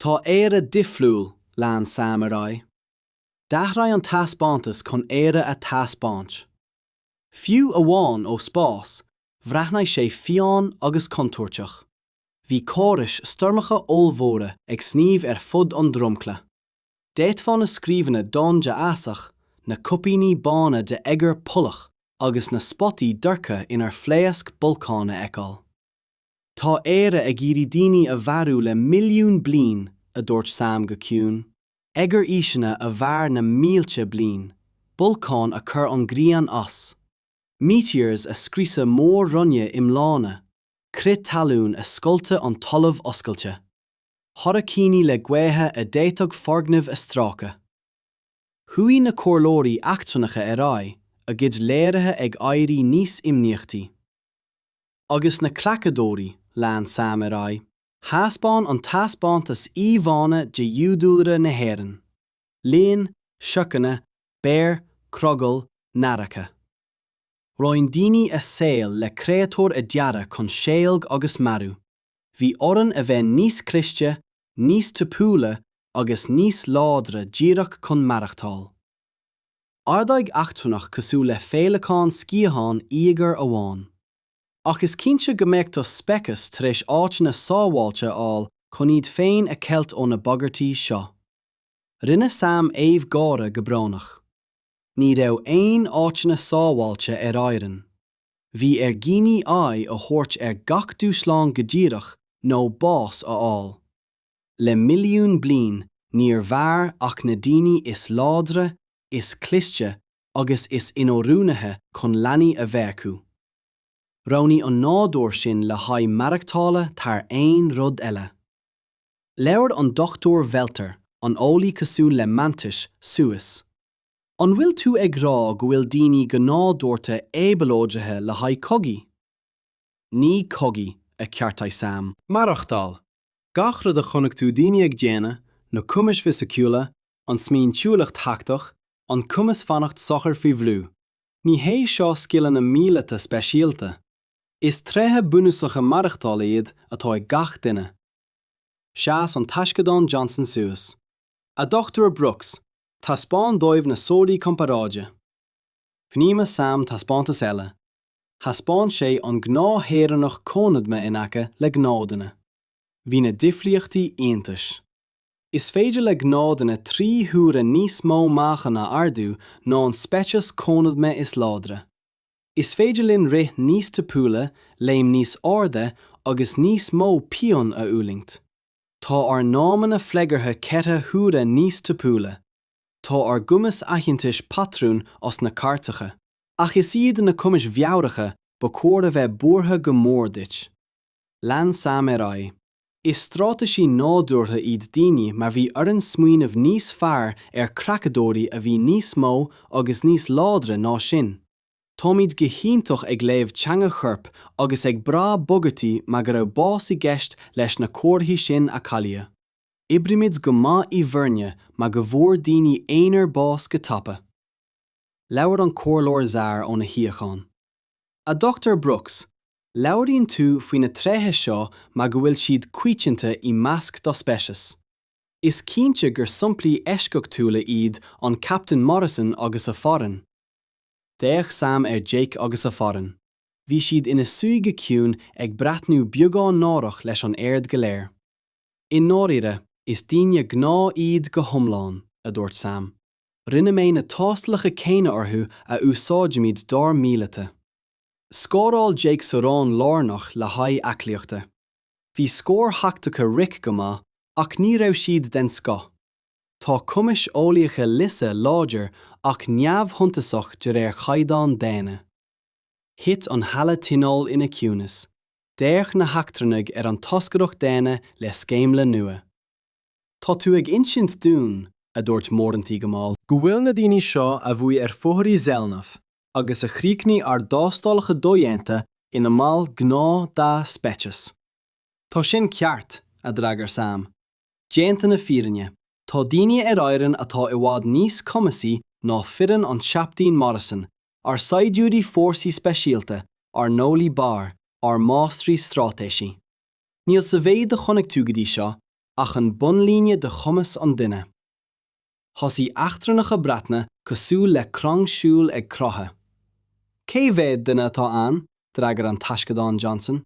Speaker 1: Tá Éire difriúil, lean Sam ar aghaidh. D'athraigh an taispeántas chun Éire a thaispeáint. Fiú amháin ó spás, bhreathnaigh sé fiáin agus contúirteach. bhí córais stoirmeacha ollmhóra ag sníomh ar fud an dromchla. D'fhéadfá na scríobhanna donn de fhásach, na cuipíní bána de oighear polach agus na spotaí dorcha inar phléasc bolcáin a fheiceáil. Tá Éire ag iarraidh daoine a mharú le milliún bliain, a dúirt Sam go ciúin. Oighearaoiseanna a mhair na mílte bliain. Bolcáin a chuir an ghrian as. Meteors a scriosadh mór-roinne iomlána. crith talún a scoilteadh an talamh oscailte, hairicíní le gaotha a d'fhéadfadh foirgnimh a strácadh. Chuaigh na comhairleoirí eachtrannacha ar aghaidh, a gcuid léirithe ag éirí níos imníochtaí. Agus na creachadóirí, lean Sam ar aghaidh. Thaispeáin an taispeántas íomhánna de fhiadhúlra na hÉireann, leoin, siorcanna, béir, crogaill, nathracha. Roinn daoine a saol le créatúir a dearadh chun seilg agus marú. Bhí orainn a bheith níos cliste, níos tapúla agus níos láidre díreach chun maireachtáil. Ardaigh eachtrannach cosúil le féileacán sciathán íogair amháin. Ach is cinnte go mbeadh do speiceas tar éis áiteanna sábháilte a fháil chun iad féin a cheilt ó na bagairtí seo. Rinne Sam aoibh gáire go brónach. Ní raibh aon áiteanna sábháilte ar Éirinn. Bhí ar dhaoine aghaidh a thabhairt ar gach dúshlán go díreach nó bás a fháil. Le milliún bliain níor mhair ach na daoine is láidre, is cliste agus is inoiriúnaithe chun leanaí a bheith acu. Roghnaigh an nádúr sinn le haghaidh maireachtála thar aon rud eile. Labhair an Dr Welter, an eolaí cosúil le Mantis, suas. An bhfuil tú ag rá go bhfuil daoine go nádúrtha éabhlóidithe le haghaidh cogaí? Ní cogaí, a cheartaigh Sam. Maireachtáil. Gach rud a chonaic tú daoine ag déanamh, na cumais fisiciúla, an smaointiúlacht thachtach, an cumas fanacht socair faoi bhrú. Ní hé seo scileanna míleata speisialta. Is tréithe bunúsacha maireachtála iad atá ag gach duine. Sheas an taisceadán Johnson suas. A Dhochtúir Brooks, taispeáin dóibh na sonraí comparáide. Ghníomhaigh Sam taispeántas eile. Thaispeáin sé an gnáth-shaoránach cónaidhme in aice le gnáthduine. Bhí na difríochtaí iontais. Is féidir le gnáthduine trí huaire níos mó meáchan a ardú ná an speiceas cónaidhme is láidre. Is féidir linn rith níos tapúla, léim níos airde agus níos mó pian a fhulaingt. Tá ár n-amanna freagartha ceithre huaire níos tapúla. Tá ár gcumas aitheantais patrún as na cairteacha. Ach is iad na cumais mheabhracha ba chóir a bheith buartha go mór duit. Lean sam ar aghaidh. Is straitéisí nádúrtha iad daoine mar bhí orainn smaoineamh níos fearr ar creachadóirí a bhí níos mó agus níos láidre ná sinn. Táimid go hiontach ag léamh teanga choirp agus ag brath bagairtí mar go raibh bás i gceist leis na comharthaí sin a cailleadh. Oibrímid go maith i bhfoirne mar go bhfuair daoine aonair bás go tapa. Labhair an Comhairleoir Zaar óna shuíochán. A Dr. Brooks, labhraíonn tú faoi na tréithe seo mar go bhfuil siad coitianta i measc do speiceas. Is cinnte gur somplaí eisceachtúla iad an Captain Morrison agus a foireann. D'fhéach Sam ar Jake agus a foireann. Bhí siad ina suí go ciúin ag breathnú beagán náireach leis an aird go léir. I ndáiríre, is daoine gnáth iad go hiomlán, a dúirt Sam. Rinne mé na tástalacha céanna orthu a úsáidimid dár míleata. Scóráil Jake sa raon lárnach le haghaidh aclaíochta. Bhí scóir thactacha Rick go maith ach ní raibh siad den scoth. Tá cumais eolaíocha Lisa láidir ach neamhshuntasach de réir chaighdeáin daonna. Thit an Halla Tionóil ina ciúnas. D'fhéach na heachtrannaigh ar an toscaireacht daonna le sceimhle nua. Tá tú ag insint dúinn, a dúirt Moranty go mall, go bhfuil na daoine seo a bhuaigh ar fothairí Zelnaf agus a chríochnaigh ár dtástálacha dodhéanta ina mbaill gnáth dá speiceas. Tá sin ceart, a d'fhreagair Sam. Déanta na fírinne, tá daoine ar Éirinn atá i bhfad níos cumasaí ná foireann an Chaptaein Morrison, ár saighdiúirí fórsaí speisialta, ár n-eolaithe barr, ár máistrí straitéisí. Níl sa mhéid a chonaic tú go dtí seo ach an bunlíne de chumas an duine. Thosaigh eachtrannach ag breathnú cosúil le crann siúil ag croitheadh. Cé mhéad duine atá ann? d'fhreagair an Taisceadán Johnson.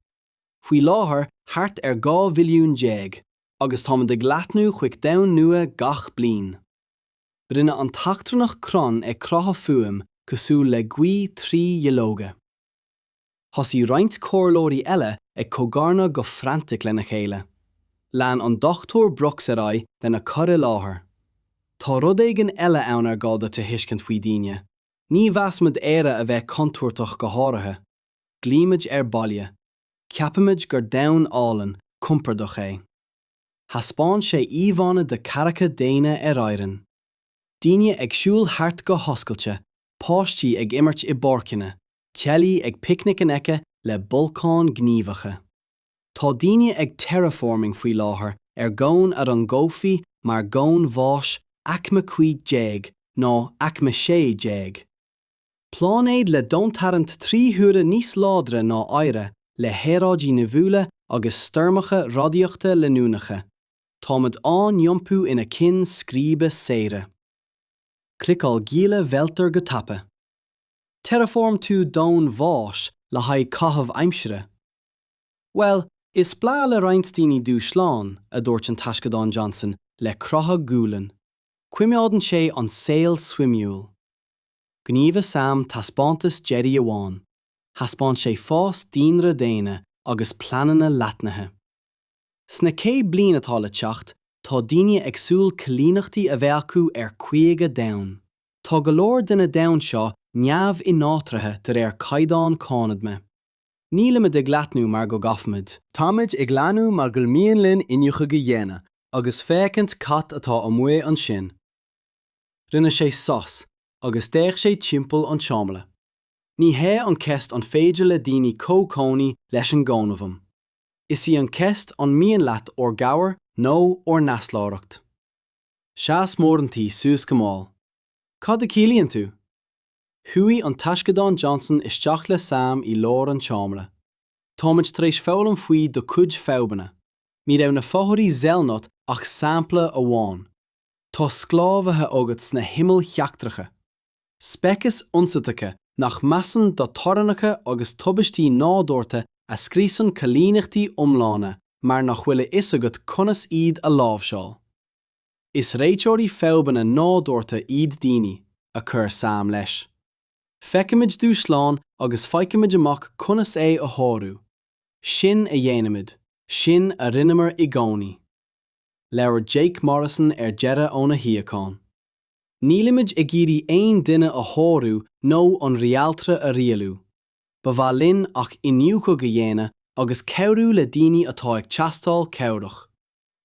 Speaker 1: Faoi láthair thart ar 12 mhilliún, agus táimid ag leathnú chuig domhan nua gach bliain. Rinne an t-eachtrannach crann ag croitheadh fuaim cosúil le gaoth trí dhuilleoga. Thosaigh roinnt comhairleoirí eile ag cogarnadh go frantic lena chéile. Lean an Dr Brooks ar aghaidh lena cur i láthair. Tá rud éigin eile ann ar gá duit a thuiscint faoi dhaoine. Ní mheasaimid Éire a bheith contúirteach go háirithe. Glaoimid ar baile. Ceapaimid gur domhan álainn, compordach é. Thaispeáin sé íomhánna de cathracha daonna ar Éirinn. daoine ag siúl thart go hoscailte, páistí ag imirt i bpáirceanna, teaghlaigh ag picnic in aice le bolcáin ghníomhacha. Tá daoine ag terraforming faoi láthair ar dhomhan a rangófaí mar dhomhan bháis aicme 15 nó aicme 16, pláinéad le domhantarraingt trí huaire níos láidre ná Oighre, le haeráidí nimhiúla agus stoirmeacha radaíochta leanúnacha. Táimid á n-iompú ina cinn scríbe saoire. Cliceáil Gile Mhelter go tapa. Terraform tú domhan bháis le haghaidh caitheamh aimsire? Bhuel, is breá le roinnt daoine dúshlán, a dúirt an Taisceadán Johnson le croitheadh gualainn. Coimeádann sé an saol suimiúil. Ghníomhaigh Sam taispeántas deiridh amháin, thaispeáin sé fás daonra daonna agus pleananna leathnaithe. Sna 100 bliain atá le teacht, tá daoine ag súil coilíneachtaí a bheith acu ar 50 domhan. Tá go leor de na domhain seo neamh-ináitrithe de réir caighdeán Cónaidhme. Nílimid ag leathnú mar go gcaithfimid. Táimid ag leathnú mar gur mian linn iniúchadh a dhéanamh agus féachaint cad atá amuigh ansin. Rinne sé sos agus d'fhéach sé timpeall an tseomra. Ní hé an cheist an féidir le daoine comhchónaí leis an gcónaidhm. Is í an cheist an mian leat ár gcabhair nó ár n-easláireacht. Sheas Moranty suas go mall. Cad a chiallaíonn tú? Chuaigh an Taisceadán Johnson isteach le Sam i lár an tseomra. Táimid tar éis foghlaim faoi do chuid fadhbanna. Ní raibh na Fothairi Zelnot ach sampla amháin. Tá sclábhaithe agat sna himill sheachtracha. speicis ionsaitheacha nach measann do theorainneacha agus tubaistí nádúrtha a scriosann coilíneachtaí iomlána mar nach bhfuil a fhios agat conas iad a láimhseáil. Is réiteoirí fadhbanna nádúrtha iad daoine, a chuir Sam leis. Feicimid dúshlán agus faighimid amach conas é a shárú. Sin a dhéanaimid. Sin a rinneamar i gcónaí. Labhair Jake Morrison ar deireadh óna shuíochán. Nílimid ag iarraidh aon duine a shárú nó an réaltra a rialú. Ba mhaith linn ach iniúchadh a dhéanamh agus cabhrú le daoine atá ag teastáil cabhrach.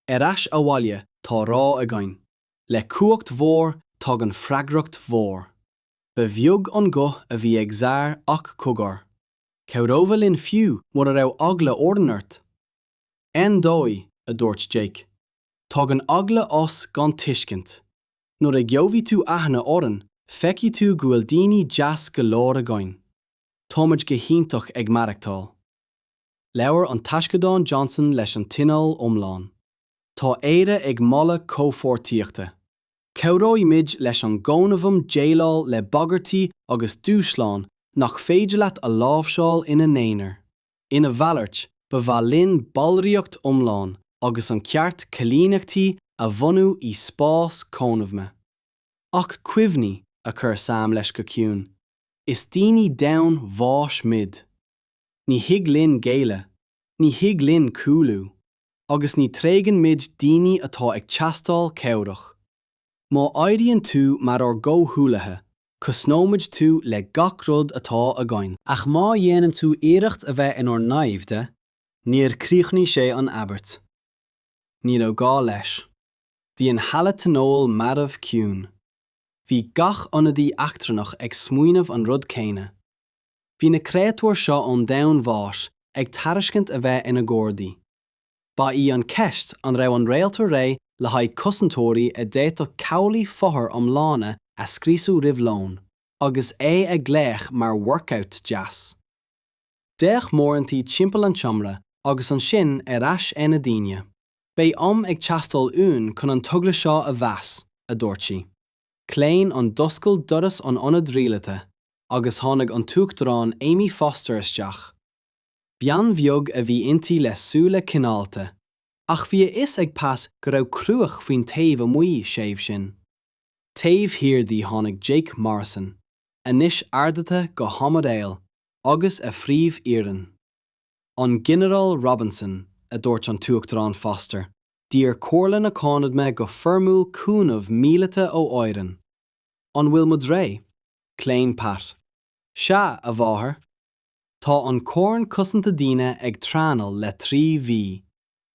Speaker 1: Ar ais abhaile, tá rá againn. Le cumhacht mhór, tagann freagracht mhór. Ba bheag an guth a bhí ag Zar ach cogar, cabhrófá linn fiú mura raibh eagla orainn ort? Ar ndóigh, a dúirt Jake, tagann eagla as gan tuiscint. Nuair a gheobhaidh tú aithne orainn, feicfidh tú go bhfuil daoine deas go leor againn. Táimid go hiontach ag maireachtáil. Labhair an Taisceadán Johnson leis an tionól iomlán. Tá Éire ag moladh comhpháirtíochta. Cabhróimid leis an gCónaidhm déileáil le bagairtí agus dúshláin nach féidir leat a láimhseáil ina n-aonar. Ina mhalairt, ba mhaith linn ballraíocht iomlán agus an ceart coilíneachtaí a bhunú i spás Cónaidhme. Ach cuimhnigh, a chuir Sam leis go ciúin, is daoine domhain bháis muid. Ní thig linn géilleadh, ní thig linn cúlú. Agus ní thréigeann muid daoine atá ag teastáil cabhrach. Má éiríonn tú mar ár gcomhghuaillithe, cosnóimid tú le gach rud atá againn. Ach má dhéanann tú iarracht a bheith inár naimhde, níor chríochnaigh sé an abairt. Ní raibh gá leis. Bhí an halla tionóil marbh ciúin. Bhí gach ionadaí eachtrannach ag smaoineamh an rud céanna. Bhí na créatúir seo ón domhan bháis ag tairiscint a bheith ina gardaí. Ba í an cheist an raibh an réaltra réidh le haghaidh cosantóirí a d'fhéadfadh cabhlaigh fothar iomlána a scriosadh roimh lón, agus é ag glaoch mar 'workout' deas. D'fhéach Moranty timpeall an tseomra agus ansin ar ais ar na daoine. Beidh am ag teastáil uainn chun an togra seo a mheas, a dúirt sí. Chlaon an D'oscail doras an ionad rialaithe agus tháinig an tUachtarán Amy Foster isteach. Bean bheag a bhí inti le súile cineálta, ach bhí a fhios ag Pat go raibh cruach faoin taobh amuigh, séimh sin. Taobh thiar di tháinig Jake Morrison, anois ardaithe go hAimiréal, agus a phríomh-fhoireann. An Ginearál Robinson, a dúirt an tUachtarán Foster, d'iarr Comhairle na Cónaidhme go foirmiúil cúnamh míleata ó Éirinn. An bhfuil muid réidh? Chlaon Pat. Sea, a mháthair. Tá an Corn Cosanta Daoine ag traenáil le trí mhí.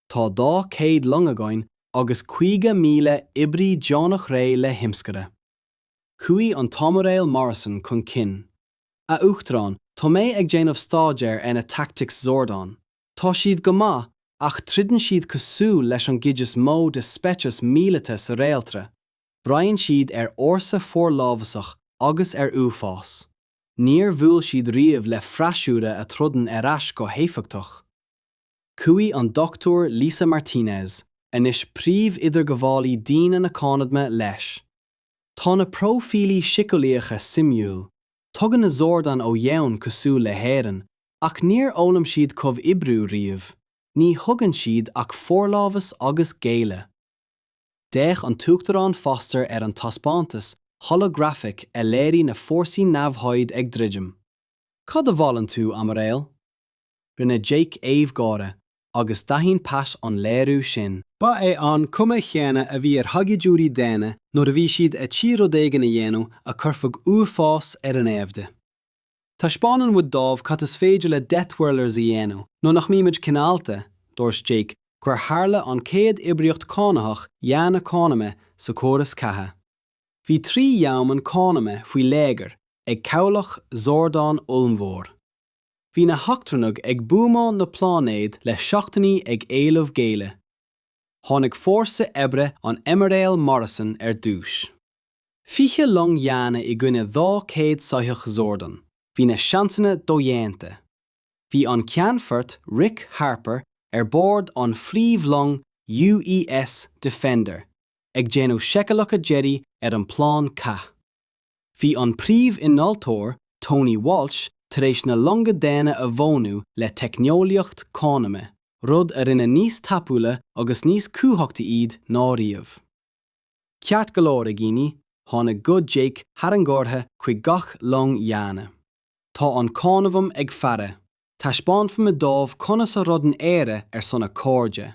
Speaker 1: Tá dhá chéad long againn agus caoga míle oibrí deonach réidh le himscaradh. Chuaigh an tAimiréal Morrison chun cinn. A Uachtaráin, tá mé ag déanamh staidéir ar na tactics Zordon. Tá siad go maith ach troideann siad cosúil leis an gcuid is mó de speicis míleata sa réaltra, braitheann siad ar fhórsa forlámhasach agus ar uafás. Níor bhuail siad riamh le freasúra a throideann ar ais go héifeachtach. Chuaigh an Dr Lisa Martinez, anois príomh-idirghabhálaí daoine na Cónaidhme, leis. Tá na próifílí síceolaíocha suimiúil. Tagann na Zordon ó dhomhan cosúil le hÉirinn, ach níor fhoghlaim siad comhoibriú riamh, ní thuigeann siad ach forlámhas agus géilleadh. D'fhéach an tUachtarán Foster ar an taispeántas holographic a léirigh na fórsaí namhaid ag druidim. Cad a mholann tú, Aimiréal? Rinne Jake aoibh gáire agus d'aithin Pat an léiriú sin. Ba é an chuma chéanna a bhí ar shaighdiúirí daonna nuair a bhí siad ar tí rud éigin a dhéanamh a chuirfeadh uafás ar a naimhde. Taispeánann muid dóibh cad is féidir le deathworlders a dhéanamh nuair nach mbímid cineálta, dúirt Jake gur tharla an chéad oibríocht chánaitheach dhaonna cónaidhme sa chóras ceatha. Bhí trí dhomhan cónaidhme faoi léigear ag cabhlach Zordon ollmhór. Bhí na heachtrannaigh ag buamáil na pláinéad le seachtainí ag éileamh géilleadh. Tháinig fórsa oibre an Aimiréil Morrison ar dtús. Fiche long dhaonna i gcoinne dhá chéad soitheach Zordon. Bhí na seansanna dodhéanta. Bhí an Ceannfort Rick Harper ar bord an phríomhlong UES Defender ag déanamh seiceálacha deiridh ar an bplean cath. Bhí an príomh-innealtóir, Tony Walsh, tar éis na longa daonna a mhodhnú le teicneolaíocht cónaidhme, rud a rinne níos tapúla agus níos cumhachtaí iad ná riamh. Ceart go leor, a dhaoine, tháinig guth Jake thar an gcomhartha chuig gach long dhaonna. Tá an cónaidhm ag faire. Taispeánfaimid dóibh conas a throideann Éire ar son a cairde.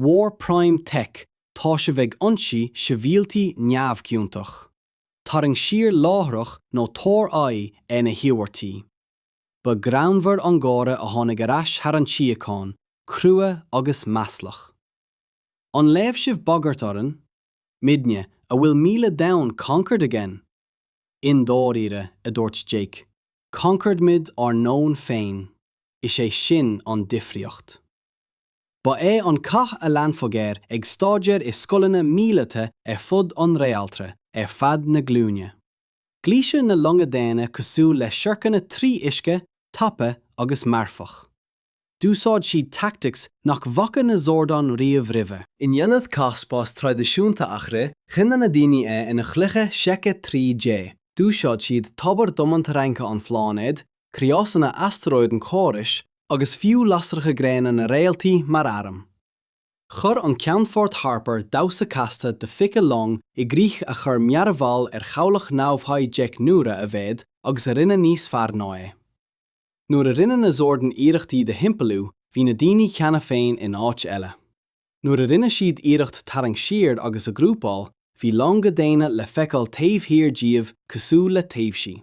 Speaker 1: War prime tech tá sibh ag ionsaí sibhialtaigh neamhchiontach. Tarraing siar láithreach nó tabhair aghaidh ar na hiarmhairtí. Ba ghreannmhar an gáire a tháinig ar ais thar an tsíocháin, crua agus maslach. An leomh sibh bagairt orainn? Muidne, a bhfuil míle domhan conquered againn? I ndáiríre, a dúirt Jake, conquered muid ár ndomhan féin. Is é sin an difríocht. Ba é an cath a leanfadh air ag staidéar i scoileanna míleata ar fud an réaltra ar feadh na glúine. Ghluais na longa daonna cosúil le siorcanna trí uisce, tapa agus marfach. D'úsáid siad tactics nach bhfaca na Zordon riamh roimhe. In ionad cath spáis traidisiúnta a rith, rinne na daoine é ina chluiche seice 3D. D'úsáid siad tobar domantarraingthe an phláinéid, criosanna astaróid an chórais agus fiú lasracha gréine na réaltaí mar airm. Chuir an Ceannfort Harper damhsa casta de fiche long i gcrích a chuir mearbhall ar chabhlach namhad deich n-uaire a mhéad agus a rinne níos fearr ná é. Nuair a rinne na Zordon iarracht iad a thimpeallú, bhí na daoine cheana féin in áit eile. Nuair a rinne siad iarracht tarraingt siar agus athghrúpáil, bhí longa daonna le feiceáil taobh thiar díobh cosúil le taibhsí.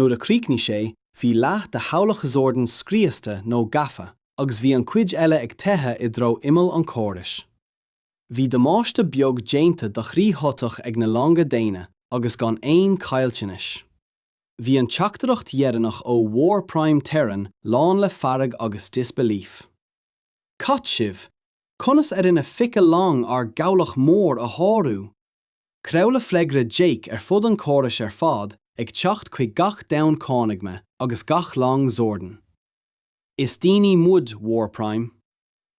Speaker 1: Nuair a chríochnaigh sé, bhí leath de chabhlach Zordon scriosta nó gafa, agus bhí an chuid eile ag teitheadh i dtreo imeall an chórais. Bhí damáiste beag déanta do thrí shoitheach ag na longa daonna, agus gan aon chaillteanais. Bhí an teachtaireacht dheireanach ó War Prime Terran lán le fearg agus disbelief. Cad sibh? Conas ar éirigh le fiche long ár gcabhlach mór a shárú? Craoladh freagra Jake ar fud an chórais ar fad ag teacht chuig gach domhan Cónaidhme agus gach long Zordon. Is daoine muid, War Prime.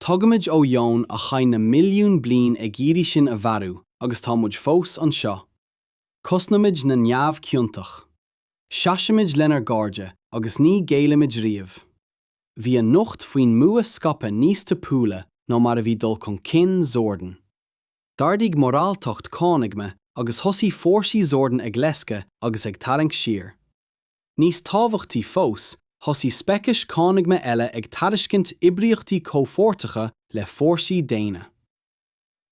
Speaker 1: Tagaimid ó dhomhan a chaith na milliúin bliain ag iarraidh sinn a mharú agus tá muid fós anseo. Cosnaimid na neamhchiontach. Seasaimid lenár gcairde agus ní ghéillimid riamh. Bhí an nuacht faoin mbua scaipthe níos tapúla ná mar a bhí dul chun cinn Zordon. D'ardaigh moráltacht Cónaidhme agus thosaigh fórsaí Zordon ag leisce agus ag tarraingt siar. Níos tábhachtaí fós, thosaigh speicis Cónaidhme eile ag tairiscint oibríochtaí comhpháirteacha le fórsaí daonna.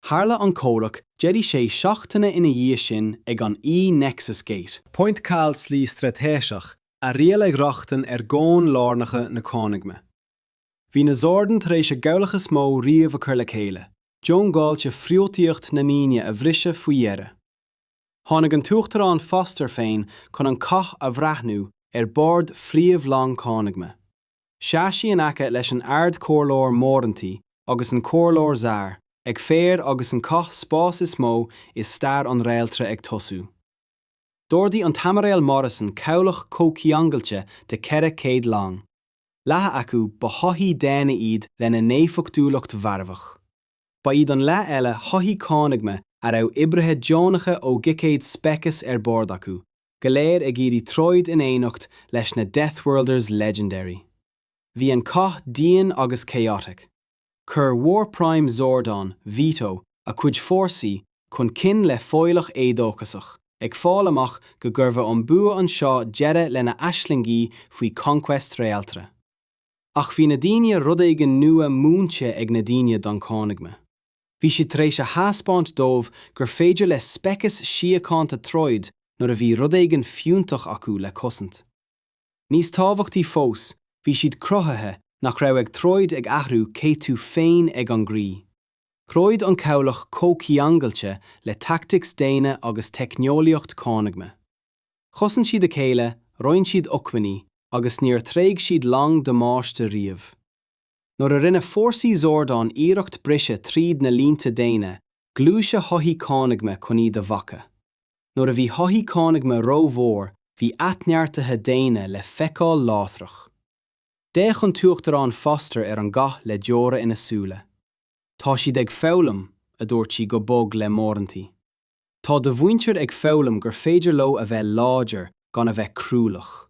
Speaker 1: Tharla an comhrac deiridh sé seachtaine ina dhiaidh sin ag an Nexus Gate. Pointe caolslí straitéiseach a rialaigh rochtain ar dhomhain lárnacha na Cónaidhme. Bhí na Zordon tar éis a gcabhlach is mó riamh a chur le chéile, diongbháilte friotaíocht na ndaoine a bhriseadh faoi dheireadh. Tháinig an tUachtarán Foster féin chun an cath a bhreathnú ar bord phríomhlong Cónaidhme. Sheas sí in aice leis an Ard-Chomhairleoir Morenty agus an Comhairleoir Zaar ag faire agus an cath spás is mó i stair an réaltra ag tosú. D'ordaigh an tAimiréal Morrison cabhlach comhcheangailte de 400 long, leath acu ba shoithí daonna iad lena n-éifeachtúlacht mharfach. Ba iad an leath eile soithí Cónaidhme a raibh oibrithe deonacha ó dhaichéad speiceas ar bord acu, go léir ag iarraidh troid in éineacht leis na Deathworlders Legendary. Bhí an cath dian agus chaotic. chuir War Prime Zordon Vito a chuid fórsaí chun cinn le foghlach éadóchasach, ag fáil amach go gcuirfeadh an bua anseo deireadh lena aislingí faoi conquest réaltra. Ach bhí na daoine rud éigin nua múinte ag na daoine don Chónaidhm. Bhí siad tar éis a thaispeáint dóibh gur féidir le speiceas síochánta troid nuair a bhí rud éigin fiúntach acu le cosaint. Níos tábhachtaí fós, bhí siad cruthaithe nach raibh ag troid ag athrú cé tú féin ag an gcroí. Throid an cabhlach comhcheangailte le tactics daonna agus teicneolaíocht cónaidhme. Chosain siad a chéile, roinn siad acmhainní, agus níor thréig siad long damáiste riamh. nuair a rinne fórsaí Zordán iarracht briseadh tríd na línte daonna, gluaiseadh shoithí cónaidhme chun iad a bhacadh. Nuair a bhí shoithí cónaidhme ró-mhór, bhí athneartaithe daonna le feiceáil láithreach. D'fhéach an tUachtarán Foster ar an gcath le deora ina súile. Tá siad ag foghlaim, a dúirt sí go bog le Moranti. Tá do mhuintir ag foghlaim gur féidir leo a bheith láidir gan a bheith cruálach.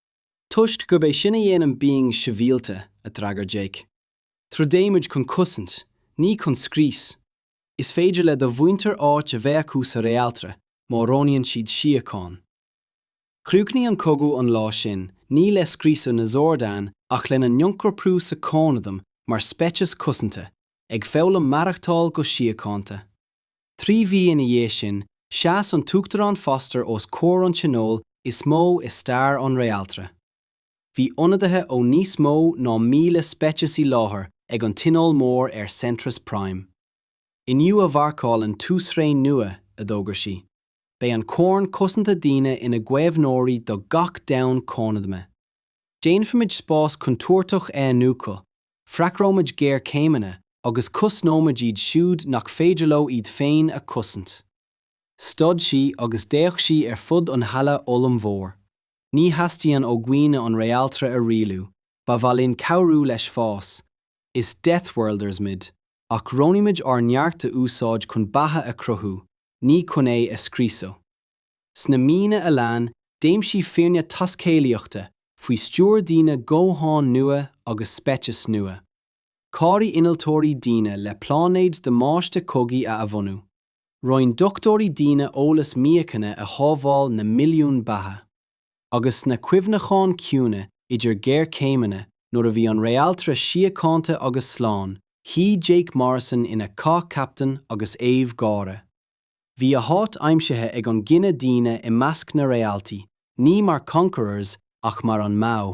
Speaker 1: Toisc gurb é sin a dhéanann being sibhialta, a d'fhreagair Jake. Troideoimid chun cosaint, ní chun scrios. Is féidir le do mhuintir áit a bheith acu sa réaltra má roghnaíonn siad síocháin. Chríochnaigh an cogadh an lá sin, ní le scriosadh na Zordan ach lena n-ionchorprú sa chónaidhm mar speiceas cosanta, ag foghlaim maireachtáil go síochánta. Trí mhí ina dhiaidh sin, sheas an tUachtarán Foster os comhair an Tionóil is mó i stair an Réaltra. Bhí ionadaithe ó níos mó ná míle speiceas i láthair ag an tionól mór ar Centris Prime. Inniu a mharcálann tús ré nua, a d'fhógair sí. Beidh an Corn Cosanta Daoine ina gcaomhnóirí do gach domhan cónaidhme. Déanfaimid spás contúirteach a iniúchadh, freagróimid géarchéimeanna agus cosnóimid iad siúd nach féidir leo iad féin a chosaint. Stad sí agus d'fhéach sí ar fud an halla ollmhóir. Ní theastaíonn ó dhaoine an réaltra a rialú, ba mhaith linn cabhrú leis fás. Is deathworlders muid, ach roghnaímid ár neart a úsáid chun beatha a chruthú, ní chun é a scriosadh. Sna míonna a lean, d'aimsigh foirne taiscéalaíochta, faoi stiúir daoine domhain nua agus speiceas nua. Chabhraigh innealtóirí daoine le pláinéid damáiste cogaidh a athbhunú. Roinn dochtúirí daoine eolas míochaine a shábháil na milliúin beatha. Agus sna cuimhneacháin chiúine idir géarchéimeanna, nuair a bhí an réaltra síochánta agus slán, shuigh Jake Morrison ina chathcaptaen agus aoibh gháire. Bhí a háit aimsithe ag an gcine daoine i measc na réaltaí, ní mar conquerors ach mar an mbadh.